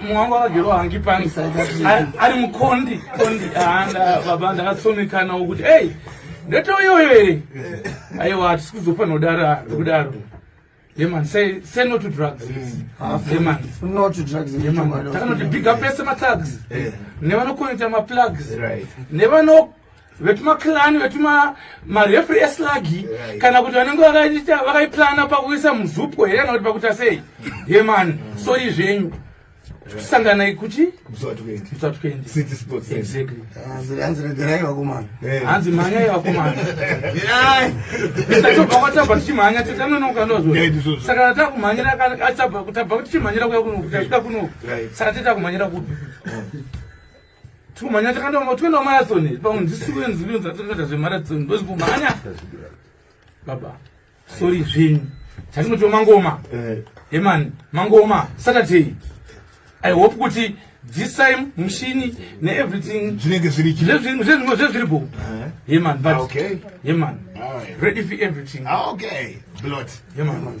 Mwangu akagero hangi pants ari mukondi kondi anda baba ndakatsomekana wokuti hey ndoto iyoyo here aiwa hatisi kuzofanira kudara ndokudaro yeman say say no to drugs mm. ah, yeman no to drugs yeman takanoti big up pese matags eh. nevanokonekta maplugs nevano vetuma clan vetuma marefri eslagi right. kana kuti vanenge vakaita vakaiplana pakuisa muzupo here kana kuti pakuita sei ye mani mm. sori zvenyu sanganai kuchi hanzi mhanyai vakomana tatobva kwatabva tichimhanya titanonokanozosakana takumhanyira tabva kutichimhanyira kuya kunoku tasvika kunoku saka titakumhanyira kupi Tumanya takanda mama twenda marathon pa ndisiwe nziwe nzatakaita zve marathon ndozvo manya. Baba. Sorry zvinhu. Chatinoti mangoma. Eh. Hey man, mangoma Saturday. I hope kuti this time mushini ne everything zvinenge zviri chizve zvinhu zvezvimwe zvezviri bo eh. Hey man, but. Okay. Hey man. All right. Ready for everything. Ah, okay. Blot. Hey man.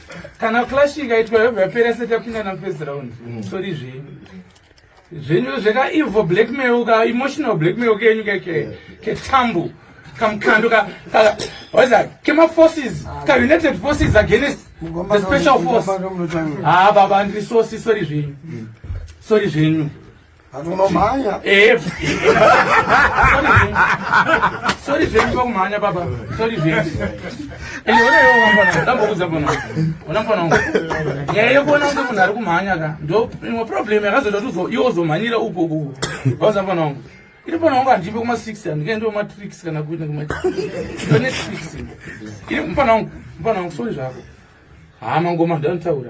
kana clash ikaitwa yobva yapera seti yapinda na first round mm. sorry zvenyu zvenyu zveka evil blackmail ka emotional blackmail kenyu keke ketambu kamkando ka ka what is that kema forces ah, ka united forces against the special force ah baba ndiri sosi sorry zvenyu mm. sorry zvenyu Vanhu unomhanya. Eh. Sorry zvenyu pakumhanya baba. Sorry zvenyu. Ende ona iwe wamfana, ndambokuudza mfana wangu. Ona mfana wangu. Nyaya yekuona kunge munhu ari kumhanya ka. Ndo imwe problem yakazoita kuti uzo- iwe uzomhanyira uko uko. Wauza mfana wangu. Iri mfana wangu handipe kuma 6 handikaendi kuma tricks kana kuita kuma Ndone tricks. Iri mfana wangu, mfana wangu sorry zvako. Haa mangoma ndantaura.